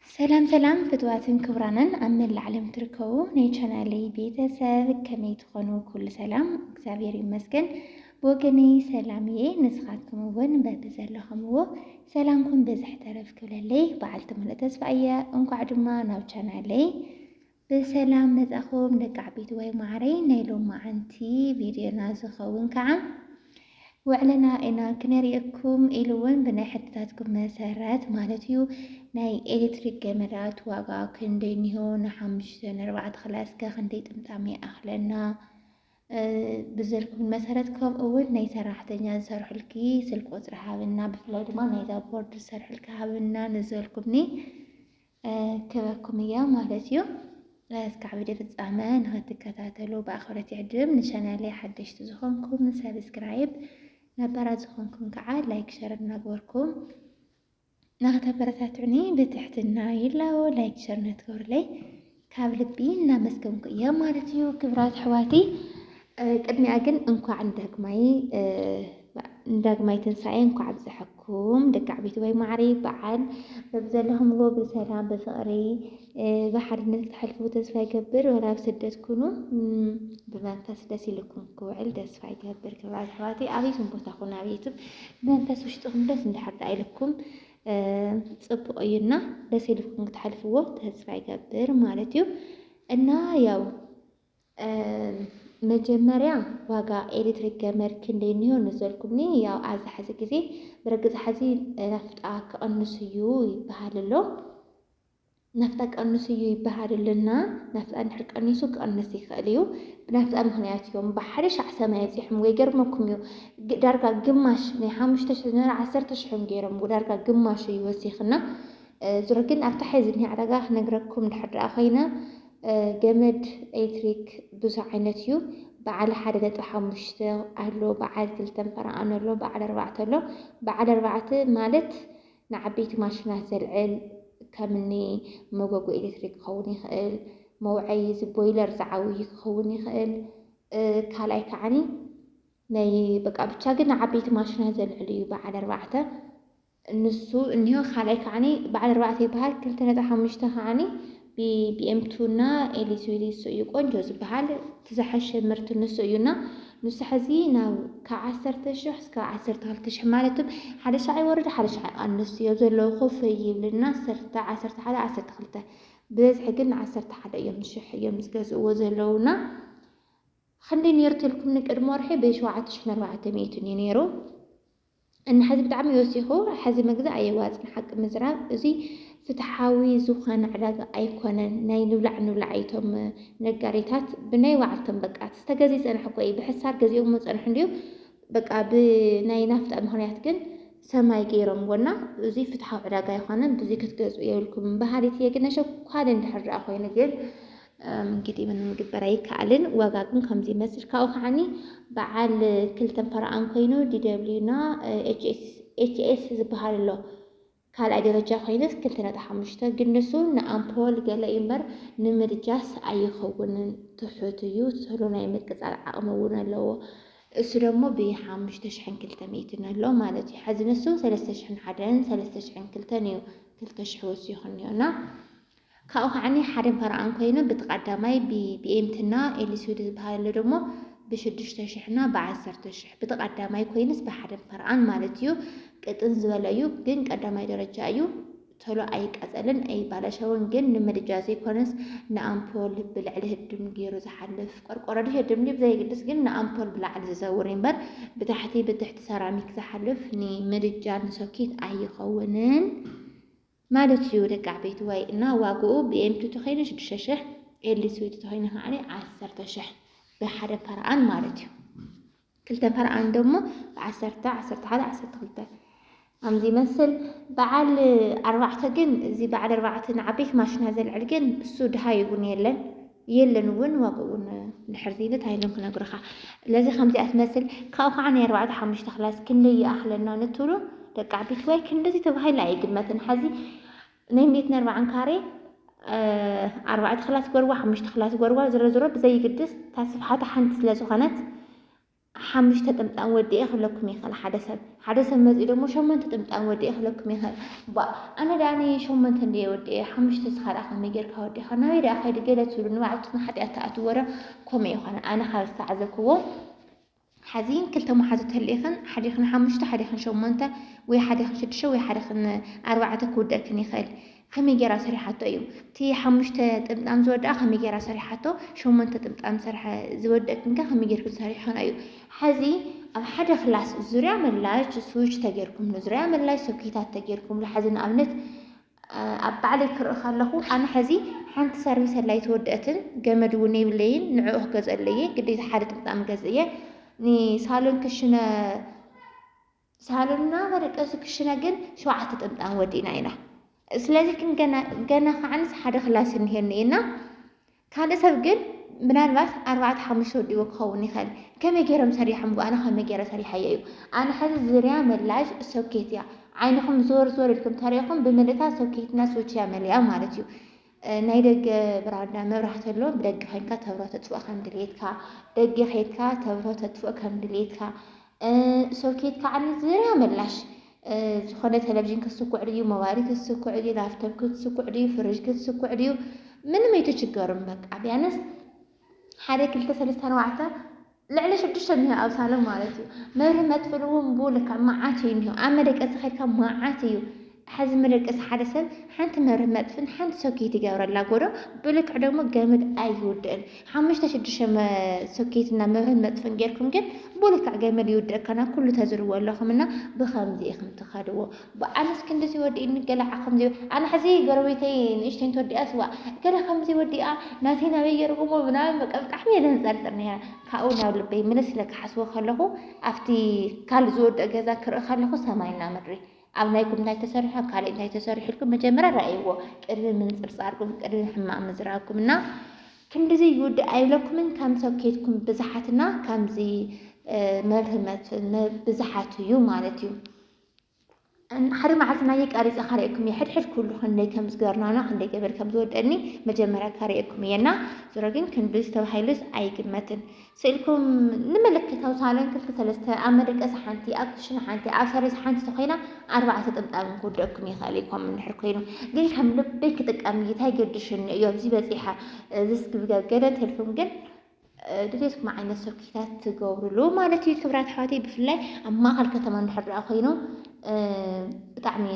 ሰላም ሰላም ፍትዋትን ክብራንን ኣብ መላእ ዓለም ትርከቡ ናይ ቻናለይ ቤተሰብ ከመይ ትኾኑ? ኩሉ ሰላም እግዚኣብሔር ይመስገን። ብወገነይ ሰላም እየ። ንስኻትኩም እውን በቢ ዘለኹምዎ ሰላምኩም ብዝሕ ተረፍ ክብለለይ በዓልቲ ሙሉእ ተስፋ እየ። እንኳዕ ድማ ናብ ቻናለይ ብሰላም መጻኹም ደቂ ዓበይትዋይ ማዓረይ ናይ ሎማዓንቲ ቪድዮና ዝኸውን ካዓ ውዕለና ኢና ክነሪእኩም ኢሉ እውን ብናይ ሕትታትኩም መሰረት ማለት እዩ ናይ ኤሌክትሪክ ገመዳት ዋጋ ክንደይ እኒሆ ንሓሙሽተ ንኣርባዕተ ክላ እስከ ክንደይ ጥምጣም ይኣኽለና ብዘልኩም መሰረት ከምኡ እውን ናይ ሰራሕተኛ ዝሰርሑልኪ ስልክ ቁፅሪ ሃብና ብፍላይ ድማ ናይዛ ቦርድ ዝሰርሑልኪ ሃብና ንዘልኩምኒ ክበኩም እያ ማለት እዩ። እስካዕ ቪድዮ ፍጻመ ንክትከታተሉ ብኣኽብረት ይዕድም። ንቻናለይ ሓደሽቲ ዝኾንኩም ሰብስክራይብ፣ ነባራት ዝኾንኩም ከዓ ላይክ ሸር እናግበርኩም ንክተበረታትዑኒ ብትሕትና ይላቦ። ላይክ ሸር ነትገብሩለይ ካብ ልቢ እናመስገንኩ እየ ማለት እዩ ክብራት ኣሕዋተይ። ቅድሚያ ግን እንኳዕ ንዳግማይ ንዳግማይ ትንሳኤ እንኳዕ ኣብፀሐኩም ደቂ ዓበይቲ ወይ ማዕሪ በዓል በብዘለኹምዎ ብሰላም ብፍቕሪ ብሓድነት ክትሕልፉ ተስፋ ይገብር። ወላ ኣብ ስደት ኩኑ ብመንፈስ ደስ ኢልኩም ክውዕል ተስፋ ይገብር። ክብራ ኣሕዋተይ ኣበይኩም ቦታ ኩኑ ኣብ ዩቱብ መንፈስ ውሽጥኹም ደስ እንዳሕርዳ ኢልኩም ፅቡቅ እዩ እና ደስ ኢልኩም ክትሓልፍዎ ተስፋ ይገብር ማለት እዩ እና ያው መጀመርያ ዋጋ ኤሌክትሪክ ገመድ ክንደይ እኒሆ ንዘልኩምኒ ያው ኣዚ ሓዚ ግዜ ብርግፅ ሓዚ ናፍጣ ክቕንስ እዩ ይበሃል ኣሎ ናፍጣ ቀንሱ እዩ ይበሃል ኣሎ እና ናፍጣ እንድሕር ቀኒሱ ክቕንስ ይኽእል እዩ። ብናፍጣ ምኽንያት እዮም ብሓደ ሻዕ ሰማይ ኣብጺሖምዎ ይገርመኩም እዩ ዳርጋ ግማሽ ናይ ሓሙሽተ ሽሕ ዝነበረ ዓሰርተ ሽሕ እዮም ገይሮምዎ ዳርጋ ግማሹ እዩ ወሲኽና። ዙሮ ግን ኣብታ ሕዚ ዝኒኣ ዕዳጋ ክነግረኩም ድሕር ደኣ ኮይነ ገመድ ኤሌክትሪክ ብዙሕ ዓይነት እዩ በዓል ሓደ ነጥቢ ሓሙሽተ ኣሎ በዓል ክልተን ፈረቓን ኣሎ በዓል ኣርባዕተ ኣሎ በዓል ኣርባዕተ ማለት ንዓበይቲ ማሽናት ዘልዕል፣ ከምኒ መጎጎ ኤሌክትሪክ ክኸውን ይኽእል፣ መውዐዪ እዚ ቦይለር ዝዓውዪ ክኸውን ይኽእል፣ ካልኣይ ከዓኒ ናይ በቃ ብቻ ግን ንዓበይቲ ማሽናት ዘልዕል እዩ በዓል ኣርባዕተ ንሱ እኒሆ፣ ካልኣይ ከዓኒ በዓል ኣርባዕተ ይበሃል፣ ክልተ ነጥቢ ሓሙሽተ ከዓኒ ቢኤምቱ እና ኤሊስዊሊ ንሱ እዩ ቆንጆ ዝበሃል እቲ ዝሓሸ ምርት ንሱ እዩ እና ንሱ ሕዚ ናብ ካብ ዓሰርተ ሽሕ እስከ ዓሰርተ ክልተ ሽሕ ማለት ሓደ ሻዕ ይወርድ ሓደ ሻዕ ይቐንስ እዮ ዘለዎ ኮፍ ይብልና ዓሰርተ ዓሰርተ ሓደ ዓሰርተ ክልተ ብበዝሒ ግን ንዓሰርተ ሓደ እዮም ሽሕ እዮም ዝገዝእዎ ዘለውና ክንደይ ነይሩ ተልኩምኒ ቅድሚ ወርሒ ብሸውዓተ ሽሕን ኣርባዕተ ሚእትን እዩ ነይሩ እና ሐዚ ብጣዕሚ ወሲኹ ሐዚ ምግዛእ ኣየዋፅን ሓቂ ምዝራብ እዙይ ፍትሓዊ ዝኾነ ዕዳጋ ኣይኮነን ናይ ንብላዕ ንብላዕ እዩ እቶም ነጋዴታት ብናይ ባዕልቶም በቃ እቲ ዝተገዝእ ይፀንሕ እኮ እዩ ብሕሳር ገዚኦሞ ፀንሑ እንድዩ በቃ ብናይ ናፍጣ ምኽንያት ግን ሰማይ ገይሮምዎ እና እዙይ ፍትሓዊ ዕዳጋ ኣይኮነን ብዙይ ክትገዝኡ የብልኩም በሃሊት እየ ግን ነሸኳል እንድሕር ዳኣ ኮይኑ ግን እንግዲህ ምንም ምግበር ኣይከኣልን። ዋጋ ግን ከምዚ ይመስል ካብኡ ከዓኒ በዓል ክልተ ፈረቓን ኮይኑ ዲደብልዩ እና ኤችኤስ ዝበሃል ኣሎ ካልኣይ ደረጃ ኮይነስ ክልተ ነጥቢ ሓሙሽተ ግን ንሱ ንኣምፖል ገለ እዩ እምበር ንምድጃስ ኣይኸውንን ትሑት እዩ ስሉ ናይ ምቅፃል ዓቕሚ እውን ኣለዎ እሱ ደግሞ ብሓሙሽተ ሽሕን ክልተ ሚእትን ኣሎ ማለት እዩ ሓዚ ንሱ ሰለስተ ሽሕን ሓደን ሰለስተ ሽሕን ክልተን እዩ ክልተ ሽሕ ወሲኹ እኒኦና ካብኡ ከዓኒ ሓደን ፓራኣን ኮይነ ብቲ ቃዳማይ ብ ብኤምቲ እና ኤሊስዊድ ዝብሃል ኣሎ ደሞ ብ ሽዱሽተ ሽሕ እና ብ ዓሰርተ ሽሕ ብቲ ቃዳማይ ኮይንስ ብ ሓደን ፓራኣን ማለት እዩ ቅጥን ዝበለ እዩ ግን ቀዳማይ ደረጃ እዩ ቶሎ ኣይቃጸልን ኣይባላሸውን ግን ን ምድጃ ዘይኮነስ ን ኣምፖል ብ ልዕሊ ህድም ጌሩ ዝሓልፍ ቆርቆሮ ድዩ ህድም ድዩ ብዘየግድስ ግን ን ኣምፖል ብ ላዕሊ ዝዘውር እዩ እምበር ብ ታሕቲ ብ ትሕቲ ሰራሚክ ዝሓልፍ ን ምድጃ ን ሶኬት ኣይኸውንን ማለት እዩ ደቂ ዓበይትዋይ እና ዋግኡ ብኤምቱ ተኾይኑ ሽዱሽተ ሽሕ ኤሊ ስዊት ተኾይኑ ከዓኒ ዓሰርተ ሽሕ ብሓደ ፐርኣን ማለት እዩ ክልተ ፐርኣን ደሞ ብዓሰርተ ዓሰርተ ሓደ ዓሰርተ ክልተ ከምዚ ይመስል በዓል ኣርባዕተ ግን እዚ በዓል ኣርባዕተ ንዓበይቲ ማሽና ዘልዕል ግን እሱ ድሃ ይቡን የለን የለን እውን ዋግኡ እውን ድሕር ዘይለ ታይሎም ክነግሩኻ ለዚ ከምዚኣ ትመስል ካብኡ ከዓ ናይ ኣርባዕተ ሓሙሽተ ክላስ ክንደይ ይኣኽለና ንትብሉ ደቂ ዓበይቲ ወይ ክንደዚ ተባሂሉ ኣይግመትን ሓዚ ናይ ሜት ነርባዓን ካሬ ኣርባዕተ ክላስ ጎርባ ሓሙሽተ ክላስ ጎርባ ዝሮ ዝሮ ብዘይግድስ ታስፍሓታ ሓንቲ ስለ ዝኾነት ሓሙሽተ ጥምጣም ወዲኤ ክብለኩም ይኽእል ሓደ ሰብ ሓደ ሰብ መጺኡ ደሞ ሸሞንተ ጥምጣም ወዲኤ ክብለኩም ይኽእል ባእ ኣነ ደኣ ን ሸሞንተ እንድየ ወዲኤ ሓሙሽተ እስኻ ደኣ ከመይ ጌርካ ወዲኻ ናበይ ደኣ ከይዲ ገለ ትብሉ ንባዕልትኩም ሓጢኣት ትኣትውዎ ዶ ከምኡ ይኾነ ኣነ ካብ ዝተዓዘብክዎ ሓዚ ክልተ መሓዙት ተልኢኽን ሓዲኽን ሓሙሽተ ሓዲኽን ሸሞንተ ወይ ሓዲኽን ሽዱሽተ ወይ ሓዲኽን ኣርባዕተ ክውደእክን ይኽእል ከመይ ጌራ ሰሪሓቶ እዩ እቲ ሓሙሽተ ጥምጣም ዝወደኣ ከመይ ጌራ ሰሪሓቶ ሸሞንተ ጥምጣም ዝሰርሐ ዝወደእክን ከ ከመይ ጌርክን ሰሪሕክን እዩ ሐዚ ኣብ ሓደ ክላስ ዙርያ መላሽ ስዊች ተጌርኩምሉ ዙርያ መላሽ ሶኬታት ተጌርኩምሉ ሐዚ ንኣብነት ኣብ ባዕለይ ክርኢ ከለኹ ኣነ ሐዚ ሓንቲ ሰርቪስ ኣላ ኣይተወደአትን ገመድ እውን የብለይን ንዕኡ ክገዝአለየ ግዴታ ሓደ ጥምጣም ገዝእየ ንሳሎን ክሽነ ሳሎንና መደቀሲ ክሽነ ግን ሸውዓተ ጥምጣም ወዲእና ኢና። ስለዚ ግን ገና ገና ከዓንስ ሓደ ክላስ እኒሄኒ እና ካልእ ሰብ ግን ምናልባት ኣርባዕተ ሓሙሽተ ወዲቦ ክኸውን ይኽእል ከመይ ገይሮም ሰሪሖም ኣነ ከመይ ገይረ ሰሪሓዮ እዩ ኣነ ሕዚ ዝርያ መላሽ ሶኬት እያ ዓይንኹም ዞር ዞር ኢልኩም ተሪኢኹም ብምልእታ ሶኬትና ስዊች እያ መሊኣ ማለት እዩ ናይ ደገ ብራንዳ መብራህቲ ኣሎ ብደገ ኮይንካ ተብሮ ተጥፍኦ ከም ድሌትካ ደገ ከይድካ ተብሮ ተጥፍኦ ከም ድሌትካ ሶኬት ከዓ ዝርያ መላሽ ዝኾነ ቴሌቪዥን ክትስኩዕ ድዩ ሞባይል ክትስኩዕ ድዩ ላፕቶፕ ክትስኩዕ ድዩ ፍርጅ ክትስኩዕ ድዩ ምንም ኣይትችገሩም በቃ ቢያንስ ሓደ ክልተ ሰለስተ ኣርባዕተ ልዕሊ ሽዱሽተ እኒሆ ኣብ ሳሎን ማለት እዩ መብርሂ መጥፍእሉ እውን ብኡ ልክዕ መዓት እዩ እኒሆ ኣብ መደቀሲ ከድካ መዓት እዩ ሐዚ መደቀሲ ሓደ ሰብ ሓንቲ መብርሂ መጥፍእን ሓንቲ ሶኬት ይገብረላ ጎዶ ብልክዕ ደግሞ ገመድ ኣይውድእን ሓሙሽተ ሽዱሽተ ሶኬት እና መብርሂን መጥፍእን ጌርኩም ግን ብኡ ልክዕ ገመድ ይውድእ ከና ኩሉ ተዝርዎ ኣለኹም እና ብኸምዚ ኢኹም ትኸድዎ ኣነስ ክንድዚ ወዲእኒ ገለ ዓክም ዘይብሉ ኣነ ሕዚ ጎረቤተይ ንእሽተይ እንተወዲኣስ ዋእ እከለ ከምዚ ወዲኣ ናተይ ናበይ ገርኩሞ ምናምን በቃ ብጣዕሚ እየ ዘንጸርጽር ነይረ ካብኡ ናብ ልበይ ምልስ ኢለ ክሓስቦ ከለኹ ኣብቲ ካልእ ዝወድእ ገዛ ክርኢ ከለኹ ሰማይና ምድሪ ኣብ ናይኩም እንታይ ተሰሪሑ ኣብ ካልእ እንታይ ተሰሪሑ ኢልኩም መጀመርያ ረኣይዎ ቅድሚ ምንጽርጻርኩም ቅድሚ ሕማቅ ምዝራብኩም እና ክንድዚ ይውድእ ኣይብለኩምን ከም ሰብ ኬትኩም ብዝሓትና ከምዚ መብርህመት ብዝሓት እዩ ማለት እዩ ሓደ መዓልቲ ናየ ቀሪፀ ካሪኤኩም እየ ሕድሕድ ኩሉ ክንደይ ከም ዝገርናና ክንደይ ገበር ከም ዝወደኒ መጀመርያ ካሪኤኩም እየና ዞሮ ግን ክንድዚ ተባሂሉስ ኣይግመትን ስእልኩም ንመለከታዊ ሳሎን ክልተ ሰለስተ ኣብ መደቀሲ ሓንቲ ኣብ ክሽነ ሓንቲ ኣብ ሰሪስ ሓንቲ ተኮይና ኣርባዕተ ጥምጣም ክውደኩም ይኽእል ይኮም እንድሕር ኮይኑ ግን ከም ልበይ ክጥቀም እታይ ገድሽኒ እዮ ኣብዚ በፂሓ ዝስግብገብ ገደት ህልኩም ግን ድሌትኩም ዓይነት ሶኪታት ትገብሩሉ ማለት እዩ ክብራት ኣሕዋተይ ብፍላይ ኣብ ማእኸል ከተማ እንድሕር ደኣ ኮይኑ ብጣዕሚ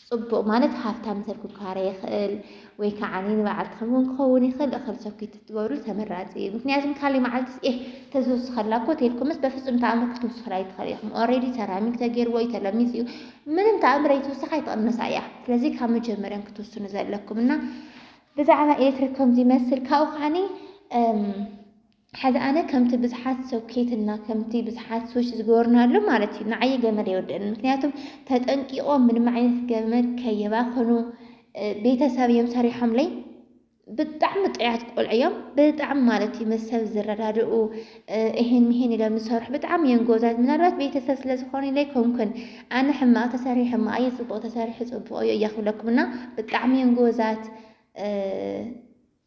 ፅቡቕ ማለት ሃብታም ሰብ ክካረ ይኽእል ወይ ከዓ ንበዓልቲ ከምውን ክኸውን ይኽእል እኽል ሶኪት ትገብሩ ተመራፂ እዩ ምክንያቱም ካሊእ መዓልትስ ኤህ ተዝውስኸላ እኮ ተልኩምስ በፍፁም ተኣምር ክትውስኽላ ኣይትኽእል ኢኹም ኦልሬዲ ሰራሚክ ተገይርዎ እዩ ተለሚፅ እዩ ምንም ተኣምር ኣይትውስኻ ኣይትቕነሳ እያ ስለዚ ካብ መጀመርያን ክትውስኑ ዘለኩም እና ብዛዕባ ኤርትራ ከምዚ ይመስል ካብኡ ከዓኒ ሐዚ ኣነ ከምቲ ብዙሓት ሰብኬትና ከምቲ ብዙሓት ሶች ዝገበርናሉ ማለት እዩ ንዓየ ገመድ ኣይወደእን ምክንያቱም ተጠንቂቆም ምንም ዓይነት ገመድ ከየባኸኑ ቤተሰብ እዮም ሰሪሖምለይ ብጣዕሚ ጥዑያት ቆልዑ እዮም ብጣዕሚ ማለት እዩ ምስ ሰብ ዝረዳድኡ ኢሂን ሚሂን ኢሎም ዝሰርሑ ብጣዕሚ ኢየን ጎበዛት ምናልባት ቤተሰብ ስለ ዝኾኑ ኢለ ኣይኮንኩን ኣነ ሕማቕ ተሰሪሑ ሕማቕ ኢዩ ጽቡቕ ተሰሪሑ ጽቡቕ ኢዩ ኢያ ክብለኩም እና ብጣዕሚ ኢየን ጎበዛት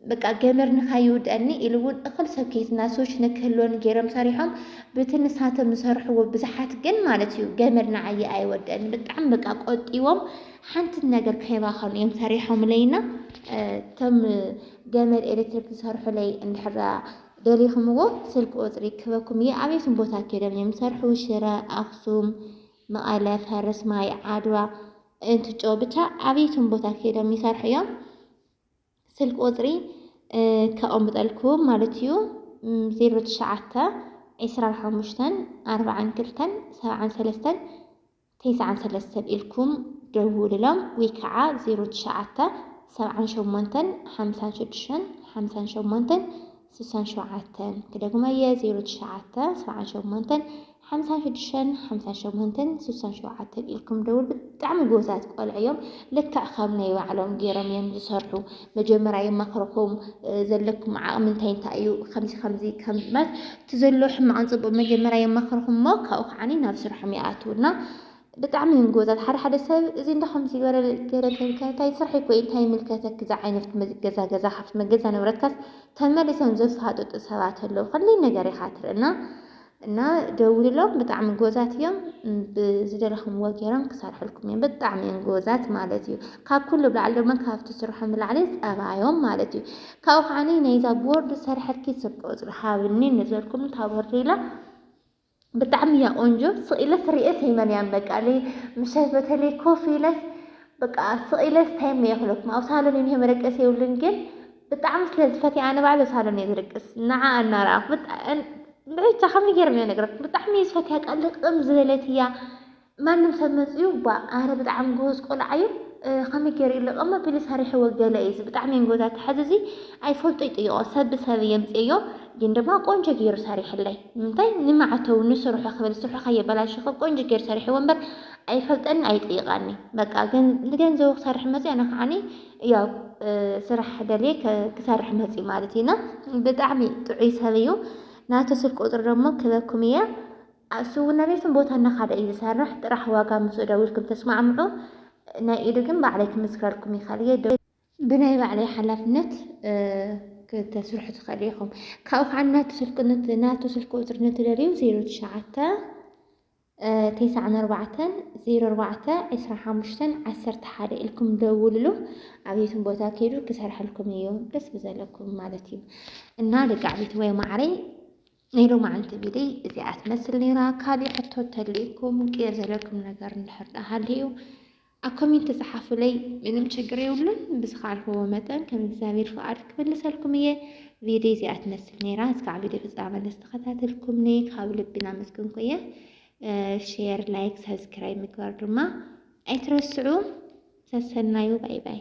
በቃ ገመድ ንካይውድኣኒ ኢሉ እውን እኽል ሰኬትና ሶች ንክህልወኒ ገይሮም ሰሪሖም ብቲ ንሳቶም ዝሰርሕዎ ብዙሓት ግን ማለት እዩ ገመድ ንዓየ ኣይወድአኒ ብጣዕሚ በቃ ቆጢቦም ሓንቲ ነገር ከይባኸኑ እዮም ሰሪሖምለይና እቶም ገመድ ኤሌክትሪክ ዝሰርሑለይ እንድሕር ደሊኽምዎ ስልኪ ቁጽሪ ክህበኩም እየ ኣበይኩም ቦታ ኬዶም እዮም ዝሰርሑ ሽረ ኣኽሱም መቐለ ፈረስማይ ዓድዋ እንትጮ ብቻ ኣበይኩም ቦታ ኬዶም ይሰርሑ እዮም ስልኪ ቁጽሪ ከቐምጠልኩም ማለት እዩ ዜሮ ትሽዓተ ዒስራን ሓሙሽተን ኣርብዓን ክልተን ሰብዓን ሰለስተን ተስዓን ሰለስተን ኢልኩም ደውሉሎም ውይ ካዓ ዜሮ ትሽዓተ ሰብዓን ሸሞንተን ሓምሳን ሽዱሽተን ሓምሳን ሸሞንተን ስሳን ሸውዓተን ክደግሞ እየ ዜሮ ትሽዓተ ሰብዓን ሸሞንተን ሓምሳን ሽዱሽተን ሓምሳን ሸሞንተን ስሳን ሸውዓተን ኢልኩም ደውል ብጣዕሚ ጎበዛት ቆልዑ እዮም ልክዕ ከም ናይ ባዕሎም ገይሮም እዮም ዝሰርሑ መጀመርያ ይመክርኹም ዘለኩም ዓቕሚ እንታይ እንታይ እዩ ከምዚ ከምዚ ከም ማለት እቲ ዘሎ ሕማቕን ጽቡቕ መጀመርያ የማኽርኹም እሞ ካብኡ ከዓኒ ናብ ስርሖም ይኣትው እና ብጣዕሚ እዮም ጎበዛት። ሓደ ሓደ ሰብ እዚ እንዳ ከምዚ ዝበለ ገለ ከልካ ታይ ስርሐይ እኮ እዩ እንታይ ይምልከተኪ እዛ ዓይነት ገዛ ገዛ ካብቲ መገዛ ንብረትካስ ተመሊሶም ዘፋጥጡ ሰባት ኣለዉ። ክንደይ ነገር ኢኻ ትርኢ እና እና ደውልሎም ብጣዕሚ ጎበዛት እዮም። ብዝደለኹምዎ ገይሮም ክሰርሑልኩም እዮም። ብጣዕሚ እዮም ጎበዛት ማለት እዩ። ካብ ኩሉ ብላዕሊ ድማ ካብቲ ስርሖም ብላዕሊ ጸባዮም ማለት እዩ። ካብኡ ከዓኒ ናይዛ ቦርድ ሰርሐኪ ስልኪ ቁጽሪ ሃብኒ ንዘልኩም ታበሪላ ብጣዕሚ እያ ቆንጆ ስቅ ኢለስ ርእየስ የመንያን በቃ ለይ ምሸት በተለይ ኮፍ ኢለስ በቃ ስቅ ኢለስ ታይም እየ ክለኩም ኣብ ሳሎን እኒሀ መደቀሲ የብሉን ግን ብጣዕሚ ስለ ዝፈትየ ኣነ ባዕለ ሳሎን እየ ዝደቅስ ንዓ እናረኣኹ ብቻ ከመይ ገይረ እየ ነግረኩም ብጣዕሚ እየ ዝፈትያ ቃል ልቅም ዝበለት እያ ማንም ሰብ መጽዩ ባእ ኣረ ብጣዕሚ ጉሁዝ ቆልዓ ዩ ከመይ ገሩ ዩ ልቕም ኣቢሉ ሰሪሕዎ ገለ ዩ እዚ ብጣዕሚ የንጎዛ ተሐዚ እዚ ኣይፈልጦ ይጥይቖ ሰብ ብሰብ የምጽየዮ ግን ድማ ቆንጆ ገሩ ሰሪሕለይ ንምንታይ ንማዕተው ንስርሑ ክብል ስርሑ ከየበላሹ ክብ ቆንጆ ገሩ ሰሪሕዎ እምበር ኣይፈልጠኒ ኣይጥይቓኒ በቃ ገን ንገንዘቡ ክሰርሕ መጽዩ ኣነ ከዓኒ ያው ስራሕ ደልየ ክሰርሕ መጽዩ ማለት ዩ እና ብጣዕሚ ጥዑይ ሰብ ዩ ናቱ ስልክ ቁጽሪ ደሞ ክበኩም እየ። ኣብ ስውእነቤትን ቦታ እናኻደ እዩ ዝሰርሕ ጥራሕ ዋጋ ምስኡ ደዊልኩም ተስማዕምዑ ናይ ኢዱ ግን ባዕለይ ክምስክረልኩም ይኽእል እየ ዶ ብናይ ባዕለይ ሓላፍነት ክተስርሑ ትኽእሉ ኢኹም ካብኡ ከዓ ናቱ ስልክ ናቱ ስልክ ቁፅሪ ንትደልዩ ዜሮ ትሽዓተ ቴስዓን ኣርባዕተን ዜሮ ኣርባዕተ ዕስራ ሓሙሽተን ዓሰርተ ሓደ ኢልኩም ደውልሉ ኣብየትን ቦታ ከይዱ ክሰርሐልኩም እዩ ደስ ብዘለኩም ማለት እዩ እና ደቂ ዓበይቲ ወይ ማዕረይ ናይ ሎማዓንቲ ቪድይ እዚኣ ትመስል ነይራ። ካሊእ ሕቶ እተልይኩም ቅር ዘለኩም ነገር እንድሕር ደኣ ሃልዩ ኣብ ኮሜንት ጸሓፉለይ፣ ምንም ችግር የብሉን። ብዝኸኣልክዎ መጠን ከም እግዚኣብሔር ፍቓድ ክምልሰልኩም እየ። ቪድይ እዚኣ ትመስል ነይራ። እስካዕ ቪድዮ ፍጻመ ንዝተኸታተልኩምኒ ካብ ልቢ እናመስገንኩ እየ። ሼር፣ ላይክ፣ ሳብስክራይብ ምግባር ድማ ኣይትረስዑ። ሰሰናዩ ባይ ባይ